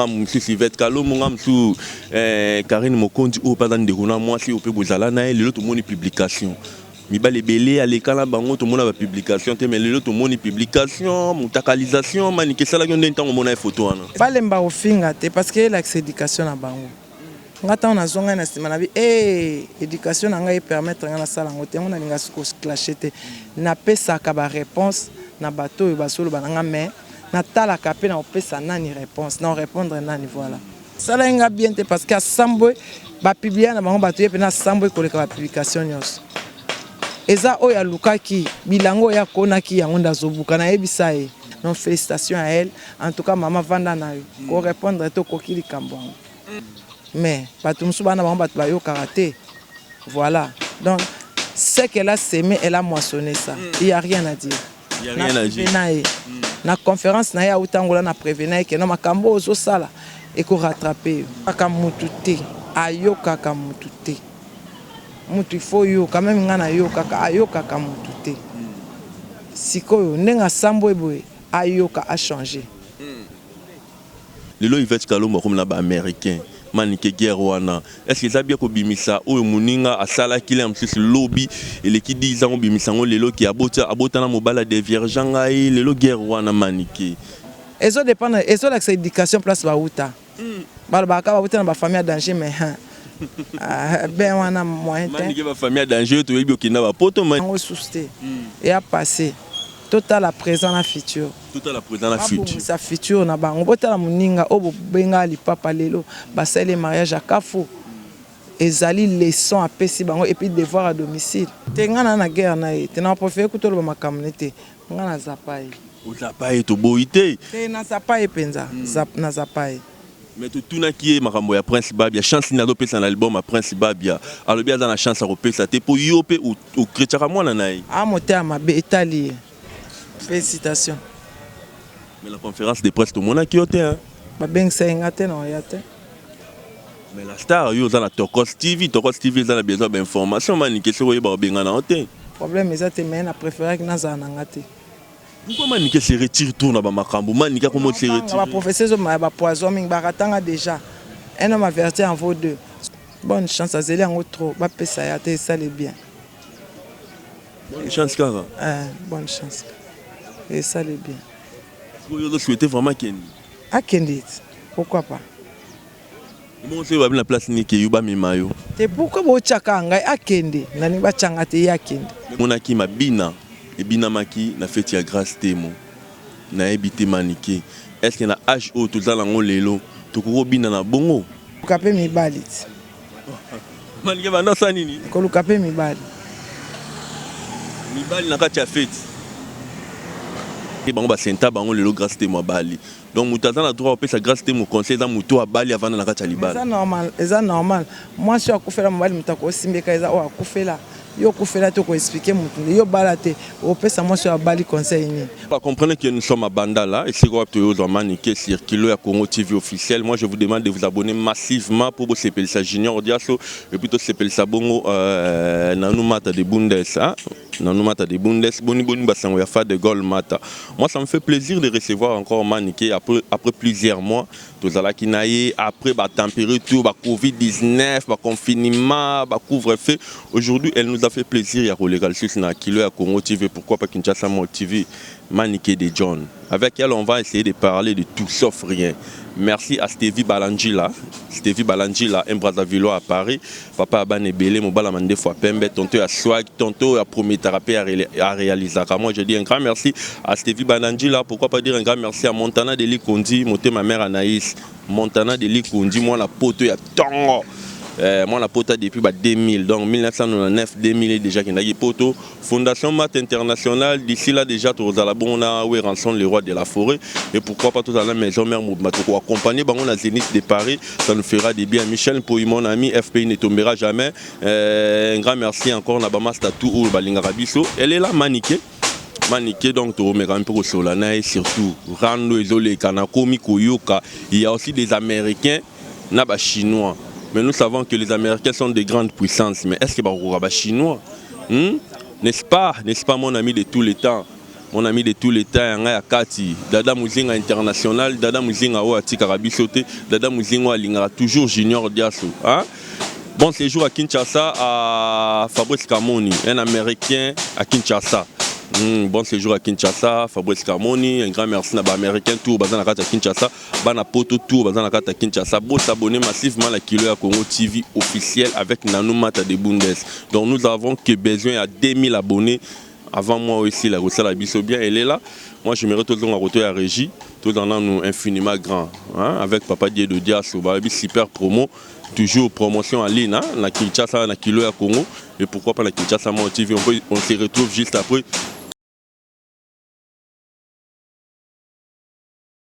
nga mosusu ivete kalombo nga mosusu eh, karine mokonzi oyo mpe aza ndeko na mwasi oyo mpe bozala na ye lelo tomoni publication Mibali ebele aleka na bango tomona ba publication te mais lelo tomoni publication mutakalisation manike esalaki yo nde ntango omona ye photo wana. Balemba kofinga te parce que elakisa education na bango nga ntango nazwa ngai na sima na bi ee education na ngai e permettre ngai nasala yango te yango nalinga ko se clasher te napesaka ba reponse na bato oyo bazoloba na nga mais natalaka mpe nakopesa nani reponse nako repondre nani voilà. sala ye nga bien te parce que asambwe bapiblia na bango bato ye mpena asambwe koleka bapublikation nyonso eza oyo alukaki bilango oyo akonaki yango nde azobuka nayebisa ye non félicitation ya elle en tout cas mama vanda na yo korépondre te okoki likambo yango mais bato mosusu bana bango bato bayokaka te voilà donc ce qu'elle a semé elle a moissonné ça il y a rien à dire naye na conference na ye auta angola na prevena ye keno makambo oyo ozosala eko rattrape yo kaka mutu te ayokaka mutu te mutu il faut oyoka meme nga nayokaka ayokaka mutu te sikoyo ndenge asambwe boye ayoka a changer Lelo Yvette kalombo akomi na ba americain manike guerre wana est ce que eza bien kobimisa oyo muninga asalaki lea mususu lobi eleki 10 ans obimisa yango lelo ke aboti abota na mobali a deviergea ngai lelo guerre wana manike. Ezo dependre ezo lakisa education place ba wuta balobaka kaka ba wuta na ba famille ya danger mais hein ahh bain wana moyen tein. Manike ba famille ya danger yo toyebi okenda ba poto mais. Yango esusu te eya passe to tala present na future. Totala president na future. Babongisa future na bango. Botala muninga oyo bobenga lipapa lelo basali ye mariage ya kafu. Ezali leçon apesi bango et puis devoir à domicile. Te nga naza na guerre na ye te na prefere kutu oloba makambu na ye te nga na zapa ye. Ozapa ye toboyi te. Te na zapa ye penza na zapa ye. Mais totunaki ye makambo ya prince babia chance nini azo pesa na album ya prince babia alobi aza na chance ya kopesa te po yo pe o cretchaka mwana na ye. Aah motema mabe etali ye. Felicitations. Mais la conférence de presse tomonaki yo te hein. Babengisaki nga te na oya te. Mais la star yo oza na Tokos TV, Tokos TV eza na besoin ba information manike soki oyeba obengana yo te. Problème eza te mais na préféraki nazala na nga te. Pourquoi manike se retire tour na ba makambo manike akomo se retire. Ba professeurs zo ba poison mingi ba ratanga déjà. Un homme averti en vaut deux. Bonne chance azeli yango trop bapesa ya te esali bien. Bonne chance kaka. Eh, bonne chance. Et ça le bien. Vous avez souhaité vraiment Kendi. Ah Kendi, pourquoi pas? Bon, c'est la place ni ke yuba mimayo. Te pourquoi bo chaka ngai akende? Ah, Nani ba changa te ya Kendi. Mona ki mabina et bina maki na fête ya grâce temo. Na ebité manike. Est-ce que na âge o tozala ngo lelo tokoko bina na bongo? Kape mibali. Manike banda osala nini? Koluka pe mibali. Mibali na kati ya feti. Bango basenta bango lelo Grace Temo abali. Donc moto aza na droit kopesa Grace Temo conseil eza moto abali avanda na kati ya libala. Eza normal, eza normal. Mwasi oyo akufela mobali moto akosimbeka eza oyo akufela. Yo kufela te ko expliquer mutu nde yo bala te opesa mwasi oyo abali conseil nini? Ba comprennent que nous sommes à Bandala esika wapi toyozwa Manike sur Kilo ya Congo TV officiel moi je vous demande de vous abonner massivement po bosepelisa Junior Diaso et puis tosepelisa bongo Nanou Mata de Bundes ah Nanou Mata de Bundes boni boni ba sango ya Fa de Gaulle Mata moi ça me fait plaisir de recevoir encore Manike après après plusieurs mois Tozalaki na ye après ba temperature ba covid 19 ba confinement ba couvre feu aujourd'hui elle nous a fait plaisir ya koleka lisusu na kilo ya Congo TV pourquoi pas Kinshasa Mode TV Manike de John avec elle on va essayer de parler de tout sauf rien merci à Stevie Balanjila Stevie Balanjila un Brazzavillois à Paris Papa ya bana ebele, mobala mandefu ya pembe, tonto ya swag, tonto ya prometaka pe a realizaka. Moi je dis un grand merci à Stevie Bananjila, pourquoi pas dire un grand merci à Montana de Likondi, motema mère Anaïs, Montana de Likondi, mwana poto ya tongo. Euh, mwana poto depuis ba 2000, donc 1999 2000 déjà kendaki poto. Fondation Math International d'ici là dejà tokozala bongo na Werrason le roi de la foret et pourquoi pas tozala na maison mère mobimba toko accompagner bango na Zenith de Paris ça nous fera du bien Michel Mpoyi mon ami FPI ne tombera jamais euh, un grand merci encore na ba masta tout oyo balingaka biso elle est là Manike manike donc tokomeka mpe kosola na ye surtout rando ezoleka nakomi koyoka il y a aussi des américains na ba chinois mais nous savons que les américains sont des grandes puissances mais est ce que bakokoka ba chinois hmm? n'est ce pas n'est ce pas mon ami de tous les temps mon ami de tous les temps ya ngai ya kati dada muzinga international dada muzinga oyo atikaka biso te dada muzinga oyo alingaka toujours junior diaso hein? Bon séjour à Kinshasa, à Fabrice Camoni, un Américain à Kinshasa. Mm, bon séjour à Kinshasa, Fabrice Camoni, un grand merci à l'Américain, tout, à Kinshasa. bana poto tour baza na kati ya kinshasa bosabone massivement na kilo ya congo tv officiel avec nanou mata de bundes donc nous avons que besoin ya 2000 abonné avant moi oyo esila kosala biso bien elela moi j'aimerais tozonga koto ya régie tozala nanu infiniment grand hein? avec papa die de diaso bayebi super promo toujours promotion en ligne hein? na kinshasa na kilo ya congo et pourquoi pas na kinshasa moi tv on, peut, on se retrouve juste après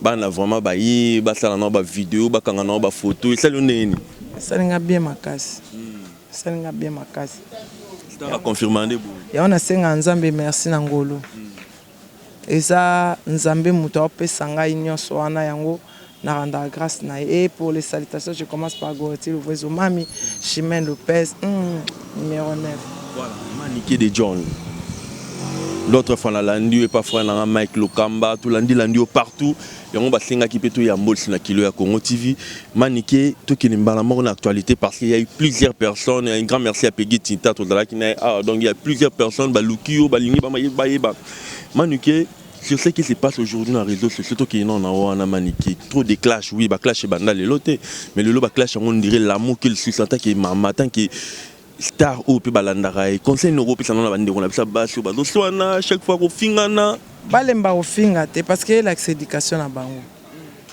Bana vraiment ba ye ba sala na ba video ba kanga na ba photo esali yo ndenge nini? Esali nga bien makasi. Esali nga bien makasi. Star a confirma nde boye. Yango na senga Nzambe merci na ngolu. Eza Nzambe mutu ao pesa ngai nionso wana yango na rendaka grace na ye. Et pour les salutations je commence par Goreti Luvuezo Mami, Chimene Lopez, hum. numero 9. Voilà, maman Niki de John. L'autre fois nalandi yo epa frère na nga Mike Lokamba, tolandi landi yo partout. Yango basengaki mpe toyambolisi na kilo ya Congo TV. Manike, tokende mbala moko na actualité parce qu'il y a eu plusieurs personnes. Un grand merci à Peggy Tinta, tozalaki na ye awa. Donc il y a plusieurs personnes baluki yo, balingi bayeba. Manike, Sur ce qui se passe aujourd'hui na réseaux sociaux tokende nao na wana manike trop de clash oui ba clash ebanda lelo te mais lelo ba clash yango ndire l'amour qu'il suce en tant que mama en tant que star oyo mpe balandaka ye conseil nini okopesa nao na bandeko na biso ya basi oyo bazoswana chaque fois kofingana balemba kofinga te parce que elakisa éducation na bango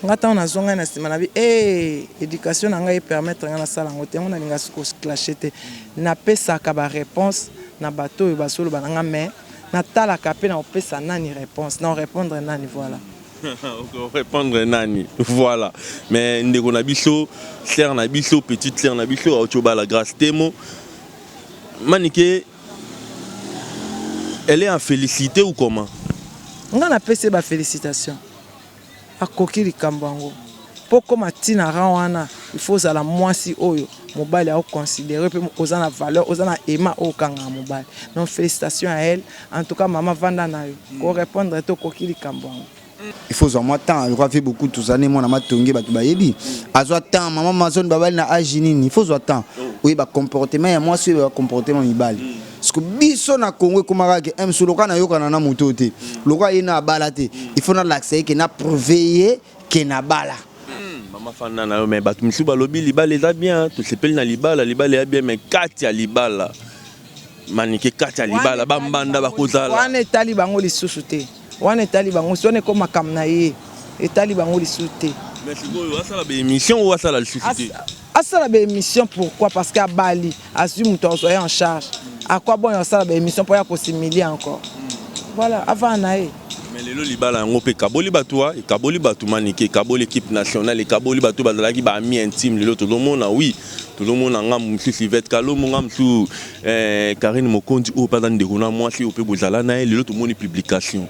Nga tango nazua ngai na sima na bi eeh education na ngai e permettre nga nasala yango te yango nalinga su ko clasher te napesaka ba reponse na bato oyo bazo loba na nga mais natalaka pe nako pesa nani reponse nao repondre nani voila. Oko repondre nani voila mais ndeko na biso sœur na biso petite sœur na biso auti obala Grace Temo Manike elle est en felicite ou comment? Nga napesi ye ba felicitations. akoki likambo yango. Po okoma ti na rang wana il faut ozala muasi oyo mobali ako considerer pe oza na valeur oza na aimant oyo okangaka mobali donc felicitations à elle en tout cas maman vanda nayo ko repondre te okoki likambo yango. Il faut ozua mwa temps lokola vieux Bokutu oza nde mwana matonge batu bayebi azua temps maman Amazone babali na age nini il faut ozua temps oyeba comportement ya mwasi oyeba comportement ya mibali. Siko biso na Congo ekomaka ke eh, msu lokola nayokana na moto oyo te lokola ye na abala te il faut nalakisa ye ke na prouve ye ke nabala hmm, mama fanda na yo me bato mosusu balobi libala eza bien tosepeli na libala libala ya bien me kati ya libala manike kati ya libala bambanda bakozala wana etali bango lisusu te wana etali bango wana eko makambo na ye etali bango lisusu te mais sikoyo asala baémission oyo asala lisusu te asala ba émission pourquoi parce que abali azwi moto azwa ye en charge à quoi bon asala ba émission mpo ya kosimilie encore voilà avana na ye mais lelo libala yango mpe ekaboli bato wa ekaboli bato manike ekaboli équipe nationale ekaboli bato bazalaki ba ami intime lelo tozomona wi tozomona nga mosusu ivete kalombo nga mosusu eh, karine mokonzi oyo mpe aza ndeko na mwasi oyo mpe bozala na ye lelo tomoni publication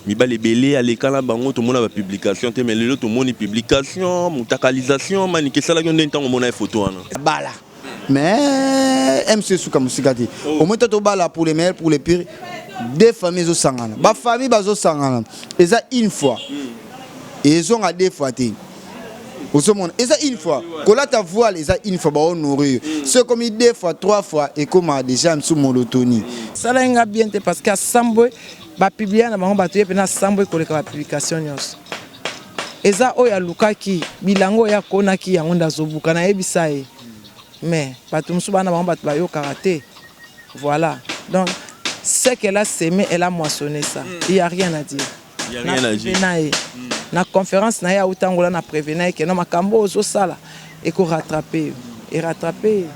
Mibali ebele aleka na bango tomona ba publication te mais lelo tomoni publication mutakalisation manike esalaki yo nde ntango omona ye photo wana bala mais mc esuka mosika te oh. omoi to tobala pour le meilleur pour le pire deux famille ezosangana bafamille bazosangana eza une fois hmm. ezonga deux fois te ozomona eza une fois kolata voile eza une fois baonourrir mm. so ekomi deux fois trois fois ekoma déjà mosusu molotoni mm. salaki nga bien te parce que asambwe Ba publia na bango bato ye pena sambo ekoleka ba publication nyonso. Eza oyo alukaki bilanga oyo akonaki yango nda azobuka na yebisa ye. Mais bato mosusu bana bango bato bayokaka te. Voilà. Donc ce qu'elle a semé, elle a moissonné ça. Hmm. Il y a rien à dire. Il y a rien à dire. Na conférence na ye autangola na prevena ye que non makambo ozo sala Eko rattraper yo. E rattraper ye.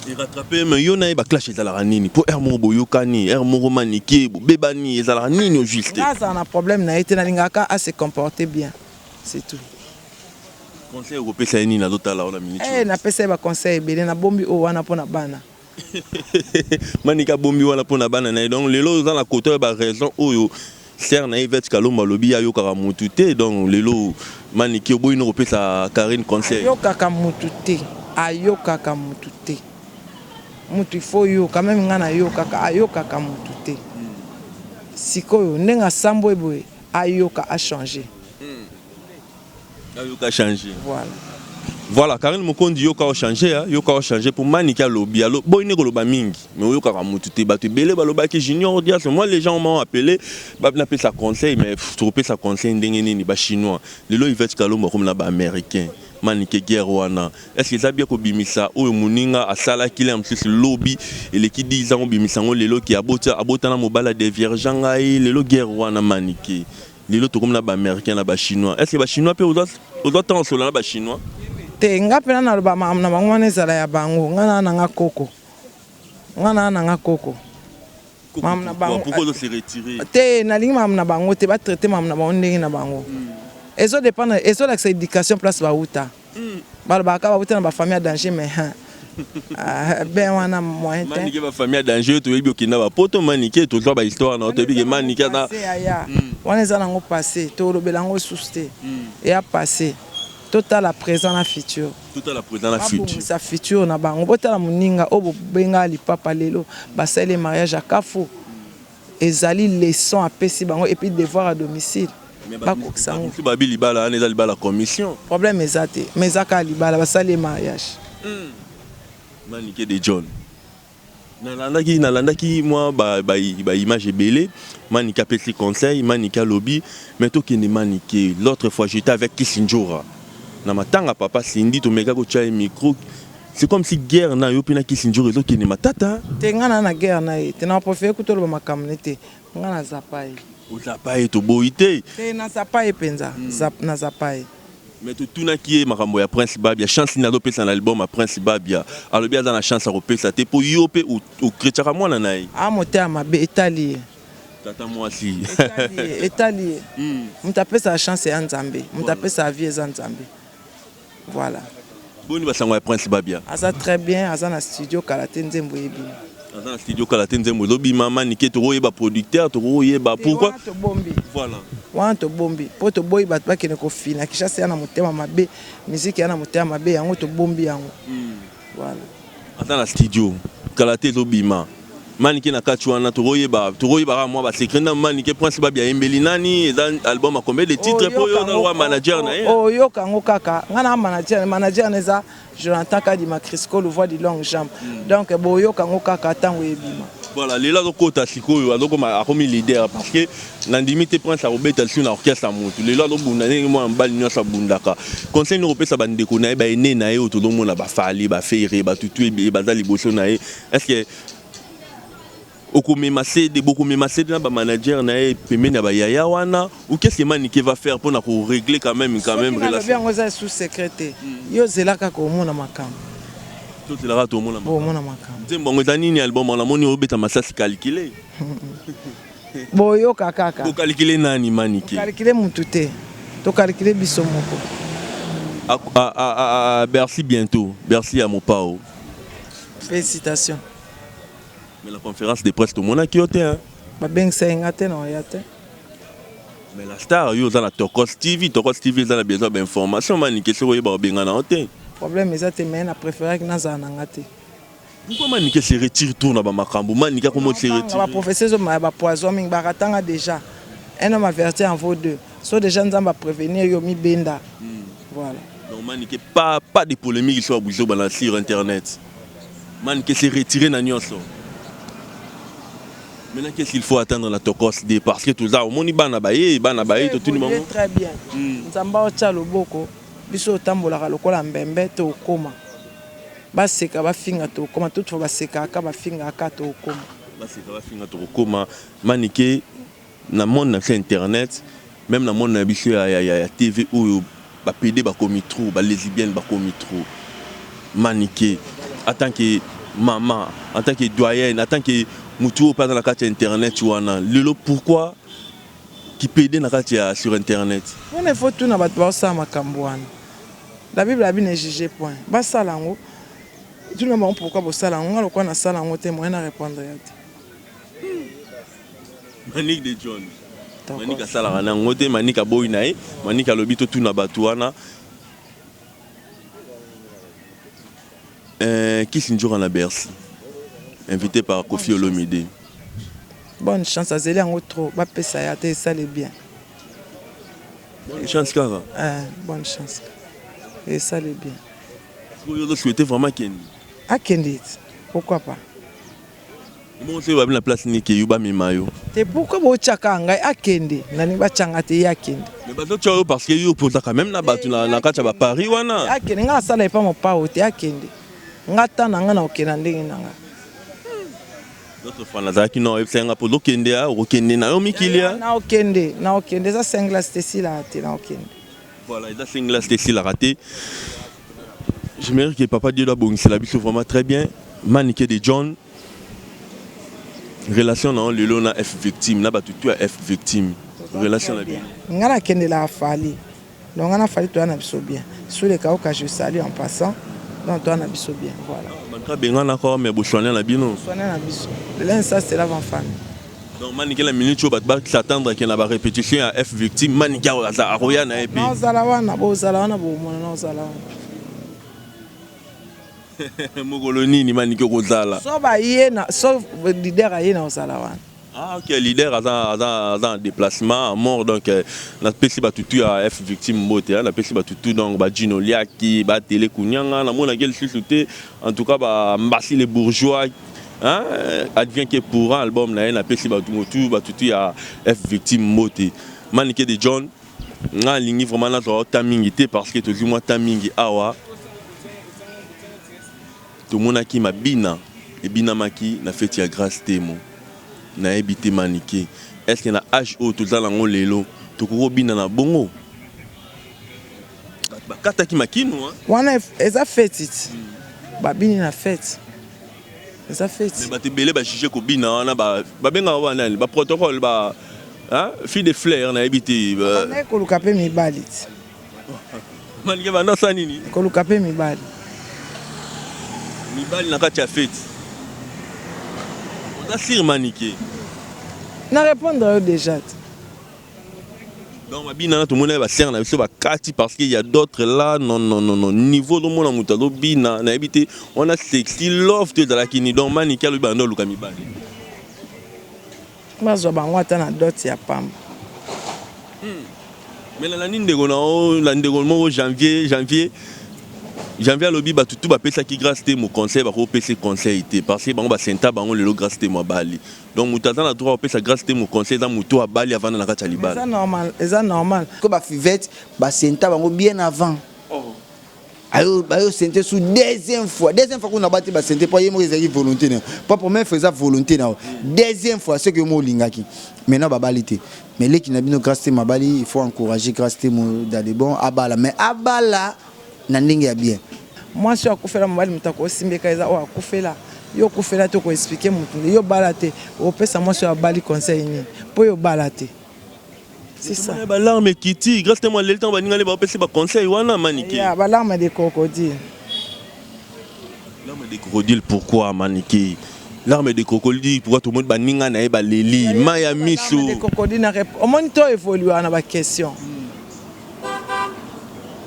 E rattraper ye mais yo na ye ba clash ezalaka nini? Po heure moko boyokani, heure moko manike, bobebani, ezalaka nini au juste? Nga azala na problème na ye te, nalingaka kaka a se comporter bien. C'est tout. Conseil okopesa ye nini? Azotala yo na minute oyo. Eh napesa ye ba conseils ebele, nabombi oyo wana pona bana. Manicke abombi wana pona bana naye donc lelo oza na kote oyo ba raison oyo sœur naye Yvette kalombo alobi ye ayokaka mutu te donc lelo Manicke oboyi no kopesa Carine conseil. Ayokaka mutu te ayokaka mutu te mutu il faut oyoka meme nga nayokaka ayokaka mutu te sikoyo ndenge asambwe boye ayoka a changer. Yoka changer. Voilà. Voilà, Karine Mokondi yoka o changer, hein. yoka o changer pour Manike alobi, alo boy ne koloba mingi, mais oyoka ka mutu te batu belé baloba ki junior dias, moi les gens m'ont appelé, ba na pesa conseil mais tu pesa conseil ndenge nini ba chinois. Lelo Yvette Kalombo comme na ba américain. Manike guerre wana. Est-ce que Zabia ko bimisa oyo muninga asala kile am sisi lobby eleki 10 ans obimisa ngo lelo ki abota abota na mobala de vierge ngai lelo guerre wana Manike. Lelo tokomi na ba americain na ba chinois est ce que ba chinois pe ozwa temps osolola na ba chinois? Te nga pena naloba makambo na bango wana ezala ya bango nga naa nanga koko nga naa nanga koko makambo na bango te nalingi makambo na bango te ba traite makambo na bango ndenge na bango ezo dependre ezolakisa education place bawuta Balobaka kaka bawuta na ba famille ya danger mais hein Ah, ben wana moyen te. Manike ba famille danger to yebi okenda ba poto manike to zwa ba histoire na to yebi ke manike na aya. Hmm. Wana eza nango passé to lobela ngo sous te. Hmm. Ya passé. To tala présent na futur. To tala présent na futur. Sa futur na bango. Bo tala muninga obo benga li papa lelo ba sale mariage à Kafu. Ezali leçon apesi bango et puis devoir à domicile bakokisa yango. Batu bayebi libala wana eza libala commission. Problème eza te mais eza kaka libala basali ye mariage. Manike de John nalandaki nalandaki mwa ba ba image ebele Manike apesi conseil Manike alobi mais tokende Manike l'autre fois j'etais avec Kissindjora na matanga papa Cindy tomeka kotia ye micro C'est comme si guerre na yo pena kisi njoro ezo kende matata. Te nga na na guerre na ye. Te na profite kuto loba makambo ne te. Nga na zapa ye. Ozapa ye to boyi te. Te na zapa ye penza. Zap na zapa ye. Mais to tuna ki ye makambo ya Prince Babia. Chance nini azo pesa na album ya Prince Babia. Alobi aza na chance ya ko pesa te po yo pe o kretchaka mwana na ye. Ah motema mabe etali ye. Tata mwasi. Etali ye. Etali ye. Moto apesaka chance ea Nzambe. Moto apesaka vie eza Nzambe. Voilà. Boni ba sango ya Prince Babia? Aza très bien, aza na studio kala te nzembo ebima. Aza na studio kala te nzembo ezo bima manike toko yeba producteur toko yeba pourquoi? Wana to bombi. Voilà. Wana to bombi. Po to boyi bato ba kende ko fina Kinshasa ya na motema mabe, musique ya na motema mabe yango to bombi yango. Mm. Voilà. Aza na studio kala te ezo bima. Manike na kati wana tokoyeba tokoyeba kaka mwa ba secret na Manike Prince Babi ayembeli nani eza album a combien de titres po yo na manager na ye oyoka yango kaka nga na manager manager na eza Jonathan Kadima Crisco le voix du long jambe hmm. donc boyoka yango kaka ntango ebima voilà lelo azokota sikoyo azokoma akomi leader parce que Nandimi te Prince akobeta lisusu na orchestre ya mutu. Lelo azobunda ndenge mwana mobali nionso abundaka. Conseil nini okopesa ba ndeko na ye, ba aines na ye oyo tozomona ba Fally, ba Ferre, ba Tutu ebele baza liboso na ye. Est-ce que okomema CD, bokomema CD na ba managers na ye pembeni ya ba yaya wana ou qu'est-ce que Manike va faire pona ko regler quand même quand même relation? Soki nalobi yango eza sous secret te. Yo zela kaka omona makambo. Tozela kaka tomona makambo. Omona makambo. Nzembo yango eza nini album wana? Namoni obeta masasi calcule. boyoka kaka bokalikile nani manike kalikile mutu te tokalikile biso moko à, à, à, à Bercy bientôt Bercy ya mopao félicitations mais la conférence de presse tomonaki yo te hein babengisa ye nga te na oya te mais la star yo oza na tokos tv tokos tv eza na besoin bainformation manike soki oyeba obengana yo te problème eza te mais na préféraki nazala na nga te Pourquoi Manicke se retire tour na ba makambu Manicke akomi o se retire. Ba prophetie ezo mema ba poison mingi ba ratanga dejà un homme averti en vaut deux so dejà nzambe a prevenir yo mi benda voilà. Donc Manicke pas pas de polemique sur buzoba na sur internet Manicke se retire na nionso. Maintenant qu'est-ce qu'il faut attendre na tokos de parce que toza omoni bana ba ye bana ba ye to tuni bango. Très bien nzambe o tia loboko biso otambolaka lokola mbembe to okoma. Ba seka ba finga toko koma tout fois ba seka ka ba finga ka toko koma. Ba seka ba finga toko koma manike na monde na biso internet meme na monde na biso ya ya ya ya TV oyo ba pede ba komi trop ba lesibienne ba komi trop manike en tant que maman en tant que doyenne en tant que mutu oyo paza na kati ya internet wana lelo pourquoi ki pede na kati ya sur internet. Wana il faut tuna batu ba sala makambo wana La bible alobi ne juge point basala yango tuna bango pourquoi bosala yango nga lokola nasala yango te moyen na repondre yo te Manick de John. Manick asalaka na yango te, Manick aboyi na ye, Manick alobi totuna bato wana. Euh, Kiss Njora na Bercy, invité par Kofi Olomide. Bonne chance, azeli yango trop, bapesa ye ata esale bien. Bonne chance kaka. Eh, bonne chance. Et ça le bien. Vous avez souhaité vraiment Kendi. Ah Kendi, pourquoi pas? Bon, c'est la place ni ke yuba mimayo. Te pourquoi bo chaka ngai akende? Ah, Nani ba changa te ya kende. Mais bazo chayo parce que yo pour quand même na batu na na kacha ba Paris wana. Akende ah, nga sala epa mo pa hote akende. Ah, nga tana nga na okena ndenge na nga. D'autres fois nazalaki na oyebisa nga po dokende ya okokende na yo mikili ya. Na okende, na okende eza singles te sila te na okende. Voilà, eza singles te sila te. Je me que papa Dieu doit bongisela biso vraiment très bien. Manike de John relation na lelo na F victime na batu tu ya F victime relation na bien. Ngana kende la fali. Donc nga na Fally toza na biso bien. Sule Kauka je salue en passant donc toza na biso bien voilà. Ah bato babengana kaka mais bosuana na bino? Bosuana na biso l'un ça se lave en famille. Donc Manike na minute oyo bato ba s'attendre que na ba repetition ya F victime Manike aza akoya na ye pe. Naozala wana bozala wana bomona naozala wana. Mokolo nini Manike okozala? So baye na so leader aye naozala wana. Ah ok, leader aza aza aza en déplacement à mort donc euh, na pesi ba tutu ya F victime mbote hein, na pesi ba tutu donc ba Gino Liaki, ba Tele Kunyanga, na mona quel susu te en tout cas ba Mbasi les bourgeois hein, advient que pourra album na ye na pesi ba tutu ba tutu ya F victime mbote. Manike de John, nga lingi vraiment na zwa ta mingi te parce que tozui mwa ta mingi awa. Tomonaki mabina ebinamaki na feti ya grace temo nayebi te manike est ce que na age oyo toza na yango lelo tokoki kobina na bongo batu bakataki makinu hein. Wana eza feti ti babini na feti eza feti. Mais batu ebele ba juge kobina wana ba babengaka ba nani ba protocole ba hein fille de fleur nayebi te. Bakendaki koluka pe mibali ti. Manike banda osala nini? Koluka pe mibali. Mibali na kati ya feti. Oza sur Manike? Na répondre yo déjà. Donc babina na tomoni ba sœur na biso bakati parce qu'il y a d'autres là non non non non niveau do mona mutu azo bina na yebi te on a sexy love te ezalaki ni donc Manike alobi banda oluka mibali. Bazwa bango ata na dot ya pamba. Hum mais na landi ndeko na yo na ndeko moko janvier janvier janvier alobi batu tout bapesaki grace temo conseil bako pese conseil te parce que bango ba senta bango lelo grace temo abali donc moto aza na droit kopesa grace temo conseil eza moto abali avanda na kati ya libala eza normal ko ba fivette ba senta bango bien avant ayo bayo sente sous deuxième fois deuxième fois kuna bati basente mpo ye moko ezalaki volonté na yo mpo première fois eza volonté na yo deuxième fois soki yo moko olingaki maintenant babali te mais leki na bino grace temo abali il faut encourager grace temo dans les bons abala mais abala na ndenge ya bien mwasi oyo akufela mobali moto akosimbeka eza oyo akufela yo okufela te okoexplike motu nde yo obala te opesa mwasi oyo abali conseil nini mpo yo obala te C'est ça. Tomona ba larmes ekiti grâce temo aleli ntango baninga ne bapesi ba conseil wana manike Ya ba larmes de crocodile. larme de crocodile pourquoi manike larme de crocodile pourquoi tomoni baninga na ye baleli mai ya miso Larmes de crocodile na rep- omoni to evoluaka na ba question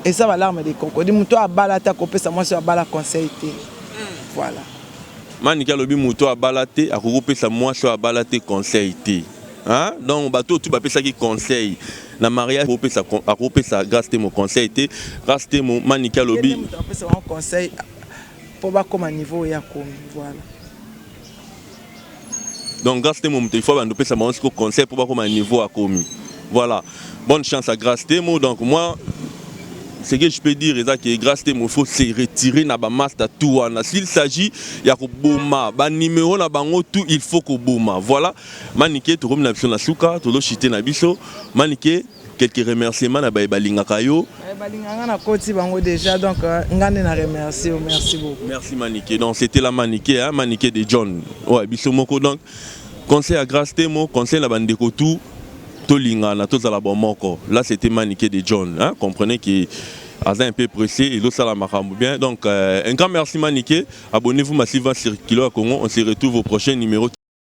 eza ba larmes de crocodile moto oyo abala ata kopesa mwasi oyo abala conseil te voilà manike alobi moto abala te akoki kopesa mwasi oyo abala te conseil te Hein? Donc bato oyo tu bapesaki conseil na mariage akopesa akopesa grâce temo conseil te grâce temo manike alobi apesa bango conseil mpo bakoma niveau oyo akomi voilà donc grâce temo moto ifo bando opesa bango siko conseil mpo bakoma niveau akomi voilà bonne chance à grâce temo donc moi ce que je peux dire eza que grâce te il faut se retirer na ba master tout wana s'il s'agit ya koboma ba numéro na bango tout il faut koboma voilà Manike tokomi na biso na suka tozo chute na biso manike quelques remerciements na baye balingaka yo eh, balinga nga na koti bango déjà donc euh, nga nde na remercie yo merci beaucoup merci manike donc c'était la manike hein manike de john ouais biso moko donc conseil à grâce temo conseil na bandeko tout tolingana tozala bomoko là c'était manike de john hein comprenez que aza un peu pressé et l'autre la makambo bien donc euh, un grand merci manike abonnez-vous massivement sur kilo à congo on se retrouve au prochain numéro